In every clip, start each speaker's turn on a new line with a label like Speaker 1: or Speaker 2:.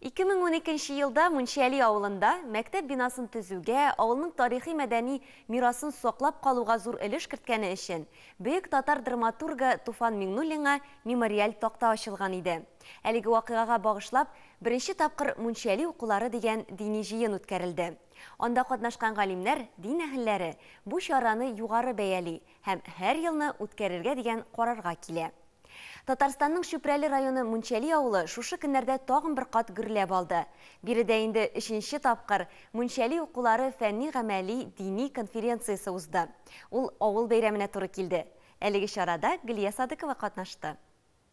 Speaker 1: Ике мең уникенче елда Мунчали авылында мәктәп бинасын төзүгә, авылның тарихи-мәдәни мирасын саклап калуга зур өлеш керткәне өчен бөек татар драматургы Туфан Миңнуллинга мемориаль такта ачылган иде. Әлеге вакыйгага багышлап, беренче тапкыр Мунчали укулары дигән дини җыен үткәрелде. Анда катнашкан галимнәр, дин әһелләре бу чараны югары бәяли һәм һәр елны үткәрергә дигән карарга килә. Татарстанның Чүпрәле районы Мунчәли авылы шушы көннәрдә тагын бер кат гөрләп алды. Биредә инде өченче тапкыр Мунчәли укулары фәнни-гамәли дини конференциясе узды. Ул авыл бәйрәменә туры килде. Әлеге чарада Гөлия Садыкова катнашты.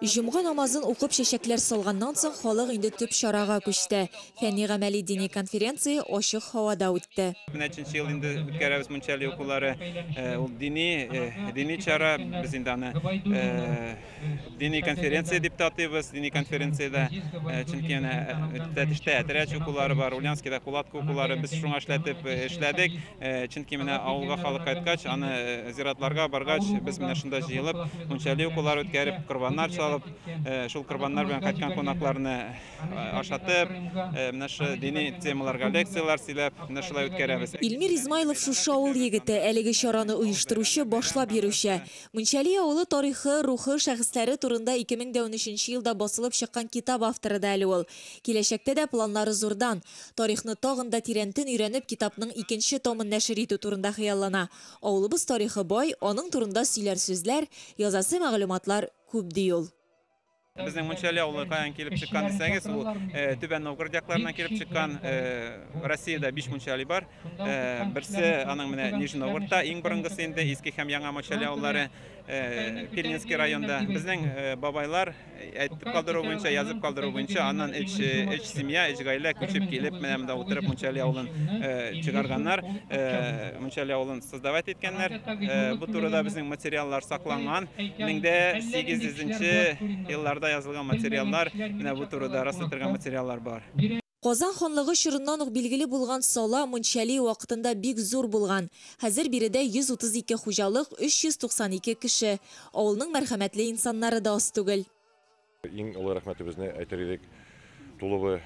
Speaker 2: Җомга намазын укып чәчәкләр салганнан соң халык инде төп чарага күчте. Фәнни-гамәли дини конференция ачык һавада үтте. Нәченче ел инде
Speaker 3: үткәрәбез Мунча Алие укулары. Ул дини, дини чара. Без инде аны дини конференция дип тә атыйбыз. Дини конференциядә, чөнки әнә Тәтештә Әтирәч укулары бар, Ульянскида Кулатка укулары. Без шуңа эшләтеп эшләдек. Э, чөнки менә авылга халык кайткач аны э, зиратларга баргач без менә шунда җыелып мунчали укулар үткәреп корбаннар чалып э, шул корбаннар белән кайткан кунакларны ашатып менә шы дини темаларга лекцияләр сөйләп менә шулай үткәрәбез Илмир Измайлов
Speaker 2: шушы авыл егете әлеге чараны оештыручы башлап йөрүче Мунчали авылы тарихы рухы шәхесләре турында 2013 елда басылып чыккан китап авторы да әле ул киләчәктә дә планнары зурдан Тарихны тагын да тирәнтен өйрәнеп, китапның икенче томын нәшер итү турында хыяллана. Авылыбыз тарихы бай, аның турында сөйләр сүзләр, язасы мәгълүматлар күп, ди ул. Безнең
Speaker 3: Мунчали авылы каян килеп чыккан дисәгез, ул Түбән Новгород якларыннан килеп чыккан. Россиядә биш Мунчали бар. Берсе аның менә Нижний Новгородта иң борынгысы инде, Иске һәм Яңа Мочали авыллары Пельнинский районда. Безнең бабайлар Әйтеп калдыру буенча, язып калдыру буенча, аннан эч, эч семья, эч гаилә күчеп килеп, менә монда утырып Мунчали авылын э, чыгарганнар, э, Мунчали авылын создавать иткәннәр. Э, бу турыда безнең материаллар сакланган. 1800 елларда язылган материаллар, менә бу турыда раслатырга материаллар бар. Казан ханлыгы
Speaker 2: чорыннан ук билгеле булган Сала, Мунчали, вакытында бик зур булган. Хәзер биредә 132 хуҗалык, 392 кеше. Авылның мәрхәмәтле инсаннары да аз түгел. Иң олы
Speaker 4: рәхмәтебезне әйтер идек Туловы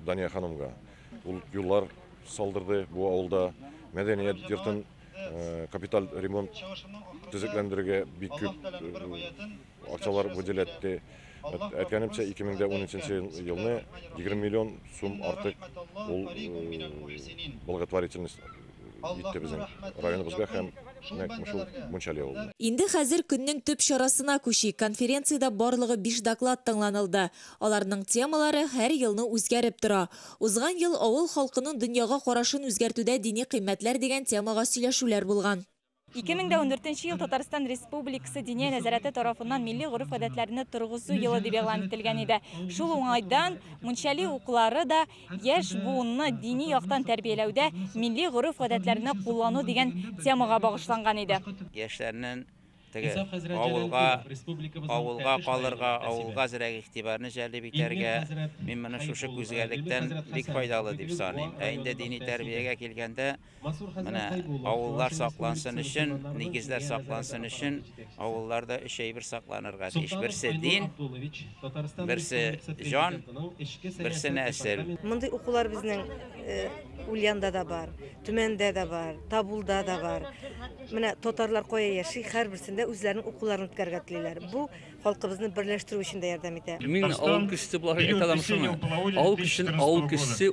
Speaker 4: Дания ханымга. Ул юллар салдырды бу авылда, мәдәният йортын капиталь ремонт, төзекләндерергә бик күп. акчалар бүделәтте. Әткәнемчә, 2013 елны 20 миллион сум артык ул благотворительность итте безнең районыбызга һәм нәкъ менә шул Мунчали авылына. Инде хәзер көннең
Speaker 2: төп чарасына күчик. Конференциядә барлыгы биш доклад тыңланылды. Аларның темалары һәр елны үзгәреп тора. Узган ел Авыл халкының дөньяга карашын үзгәртүдә дини кыйммәтләр дигән темага сөйләшүләр булган.
Speaker 5: 2014 ел Татарстан Республикасы Диния нәзарәте тарафыннан милли гореф-гадәтләрне торгызу елы дип игълан ителгән иде. Шул уңайдан Мунчали уклары да яшь буынны дини яктан тәрбияләүдә милли гореф-гадәтләрне куллану дигән темага багышланган иде. Яшьләрнен
Speaker 6: теге авылга, авылга калырга, авылга зрәк игътибарны җәлеп итәргә, мин моны шушы күзгәлектән бик файдалы дип саныйм. Ә инде дини тәрбиягә килгәндә, Менә авыллар саклансын өчен, нигезләр саклансын өчен авылларда өч әйбер сакланырга тиеш. Берсе, дин, берсе, җан, берсе, нәсел. Мондый укулар
Speaker 7: безнең Ульянда да бар, Төмәндә дә бар, Табулда да бар. Менә татарлар кая яши, һәрберсендә үзләренең укуларын үткәрергә телиләр. Бу халкыбызны берләштерү өчен дә ярдәм итә. Мин авыл кешесе
Speaker 8: буларак әйтә алам шуны, авыл кешесен авыл кешесе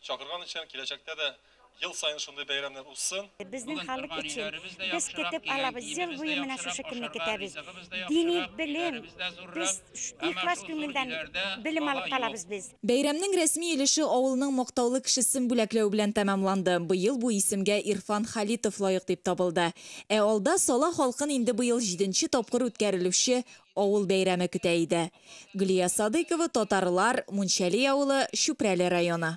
Speaker 9: Чакырган икән, киләчәктә дә ел саен шундый бәйрәмнәр узсын. Безнең халык
Speaker 10: өчен, без көтеп алабыз, ел буе менә шушы көнне көтәбез. Дини белем, без ихлас күңелдән белем алып калабыз без. Бәйрәмнең рәсми
Speaker 2: өлеше авылның мактаулы кешесен бүләкләү белән тәмамланды. Быел бу исемгә Ирфан Халитов лаек дип табылды. Ә алда Сала халкын инде быел җиденче тапкыр үткәрелүче авыл бәйрәме көтә иде. Гөлия Садыйкова, Татарлар, Мунчәли авылы, Чүпрәле районы.